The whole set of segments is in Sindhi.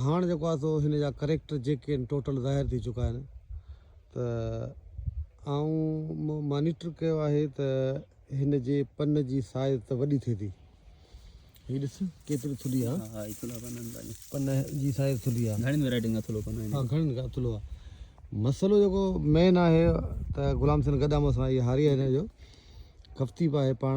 هاڻ جيڪو آهي سو هن جا ڪريڪٽر جيڪي آهن ٽوٽل ظاهر ٿي چڪا آهن ته آئون مانيٽر ڪيو آهي ته هن جي پن جي سائز ته وڏي ٿئي ٿي هي ڏس ڪيتري ٿلي آ ها هي ٿلو پن آهن پن جي سائز ٿلي آ گهڻين ويرائٽين کان ٿلو پن آهن ها گهڻين کان ٿلو آ مسئلو جيڪو مين آهي ته غلام حسين گڏا مس آهي هاري آهي هن جو کفتي به آهي پاڻ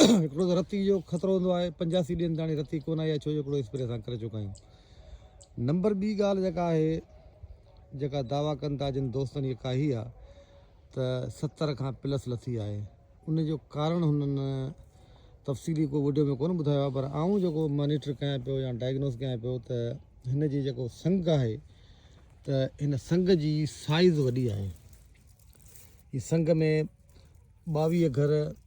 هڪڙو ته رتي جو خطرو هوندو آهي پنجاسي ڏينهن تاڻي رتي ڪونه آئي آهي ڇو جو هڪڙو اسپري اسان ڪري چڪا آهيون نمبر ٻي ڳالهه جيڪا آهي جيڪا دعويٰ ڪن ٿا جن دوستن هيء ڪاهي آهي ته ستر کان پلس لٿي آهي ان جو ڪارڻ هنن تفصيلي ڪو وڊيو ۾ ڪونه ٻڌايو آهي پر آئون جيڪو مانيٽر ڪيان پيو يا ڊائگنوز ڪيان پيو ته هن جي جيڪو سنگ آهي ته هن سنگ جي سائز وڏي آهي هي سنگ ۾ ٻاويهه گهر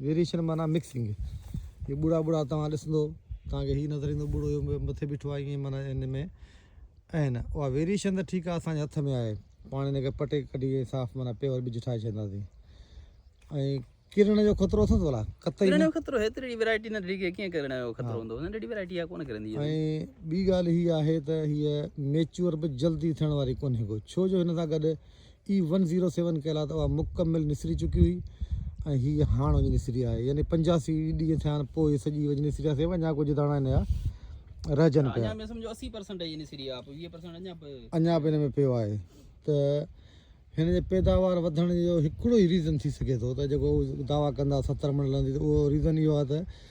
ويريشن معنيٰ مڪسنگ هي ٻوڙا ٻوڙا توهان ڏسندو توهان کي هي نظر ايندو ٻوڙو اهو مٿي بيٺو آهي ائين معنيٰ ان ۾ ائين نه اها ويريشن ته ٺيڪ آهي اسان جي هٿ ۾ آهي پاڻ ان کي پٽي ڪڍي ائين صاف معنيٰ پيور ٻج ٺاهي ڇڏينداسين ۽ ڪرڻ جو خطرو اٿس ولا قطعي ڪرڻ جو خطرو هيتري ڏي ويرائٽي نه ڏي کي ڪيئن ڪرڻ جو خطرو هوندو هن ڏي ويرائٽي آ ڪونه ڪرندي ۽ ٻي ڳالهه هي آهي ته هي ميچور به جلدي ٿيڻ واري ڪونه ڪو ڇو جو هن سان گڏ اي ون زيرو سيون ڪيل آهي ته اها مڪمل نسري چڪي هئي ۽ هي هاڻ وڃي نسري آهي يعني پنجاسي ڏينهن ٿيا آهن پوء سڄي وڃي نسري آهي سيو اڃا ڪجهه داڻا هن جا رهجن پيا اڃا به هن ۾ پيو آهي ته هن جي پيداوار وڌڻ جو هڪڙو ئي ريزن ٿي سگهي ٿو ته جيڪو دعويٰ ڪندا ستر من لهندي ته اهو ريزن اهو آهي ته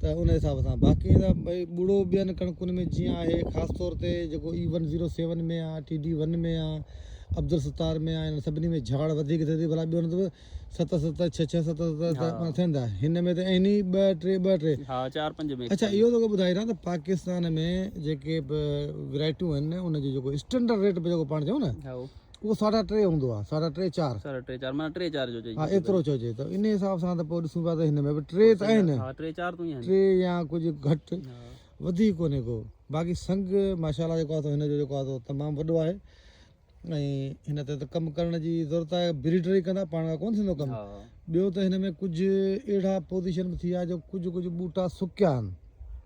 ته ان حساب سان باقي ايندا ڀئي ٻڙو ٻين ڪڻڪن ۾ جيئن آهي خاص طور تي جيڪو اي ون زيرو سيون ۾ آ ٽي ڊي ون ۾ آ عبدالستار ۾ آ انهن سڀني ۾ جهاڙ وڌيڪ ٿئي ٿي ڀلا ٻيو نه ته ست ست ڇهه ڇهه ست ست ها ته ٿيندا هن ۾ ته اين ئي ٻه ٽي ٻه ٽي ها چار پنج ۾ اڇا اهو توکي ٻڌائي رهان ته پاڪستان ۾ جيڪي به ورايٽيون آهن نه ان جو جيڪو اسٽينڊرڊ ريٽ به جيڪو پاڻ چئون نه هائو اهو ساڍا ٽي هوندو آهي ساڍا ٽي چار ساڍا ٽي چار معنيٰ ٽي چار جو چئجي ها ايترو چئجي ته انهي حساب سان ته پوء ڏسون پيا ته هن ۾ به ٽي ته آهن ها ٽي چار تون ئي آهن ٽي يا ڪجهه گهٽ وڌيڪ ڪونهي ڪو باقي سنگ ماشاء الله جيڪو آهي سو هن جو جيڪو آهي سو تمام وڏو آهي ۽ هن تي ته ڪم ڪرڻ جي ضرورت آهي بريڊر ئي ڪندا پاڻ کان ڪونه ٿيندو ڪم ها ٻيو ته هن ۾ ڪجهه اهڙا پوزيشن به ٿي ويا جو ڪجهه ڪجهه ٻوٽا سڪيا آهن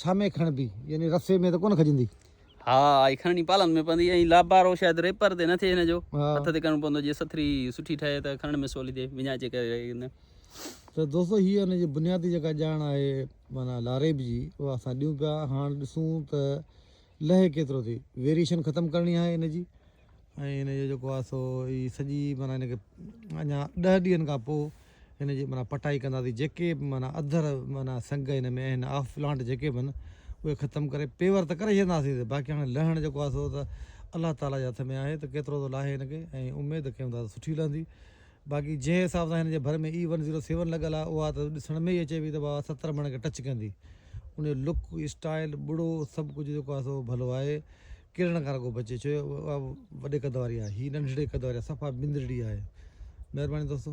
ڇا ۾ کڻبي يعني رسي ۾ ته ڪونه کڄندي. ها اهي کڻڻي پالن ۾ پوندي ۽ لابارو شايد ريپر تي نه ٿئي هن جو هٿ تي ڪرڻو پوندو جي سٿري سٺي ٺهي ته کڻڻ ۾ سولي ٿئي وڃائجي ڪري نه. ته دوستو هيء ان جي بنيادي جيڪا ڄاڻ آهي معنيٰ لاريب جي اها اسان ڏيون پيا هاڻ ڏسون ته لهي ڪيترو ٿي ويريشن ختم ڪرڻي آهي ان جي. ۽ ان جو جيڪو آهي سو هي سڄي معنيٰ ان کي اڃا ڏهه ڏينهن کان پوء ان جي معنيٰ پٽائي ڪنداسين جيڪي به معنيٰ اڌر معنيٰ سنگ هن ۾ آهن آف پلانٽ جيڪي به آهن اهي ختم ڪري پيور ته ڪري ڇڏينداسين باقي هاڻي لهڻ جيڪو آهي سو ته الله تعاليٰ جي هٿ ۾ آهي ته ڪيترو ٿو لاهي هن کي ۽ اميد ڪيون ٿا ته سٺي لهندي باقي جنهن حساب سان هن جي ڀر ۾ اي ون زيرو سيون لڳل آهي اها ته ڏسڻ ۾ ئي اچي پئي ته بابا ستر مڻ کي ٽچ ڪندي ان جو لڪ اسٽائل ٻڙو سڀ ڪجهه جيڪو آهي سو ڀلو آهي ڪيڙڻ کان رڳو بچجي ڇو جو اها وڏي قد واري آهي هي ننڍڙي قد واري آهي صفا بندرڙي آهي مهرباني دوستو.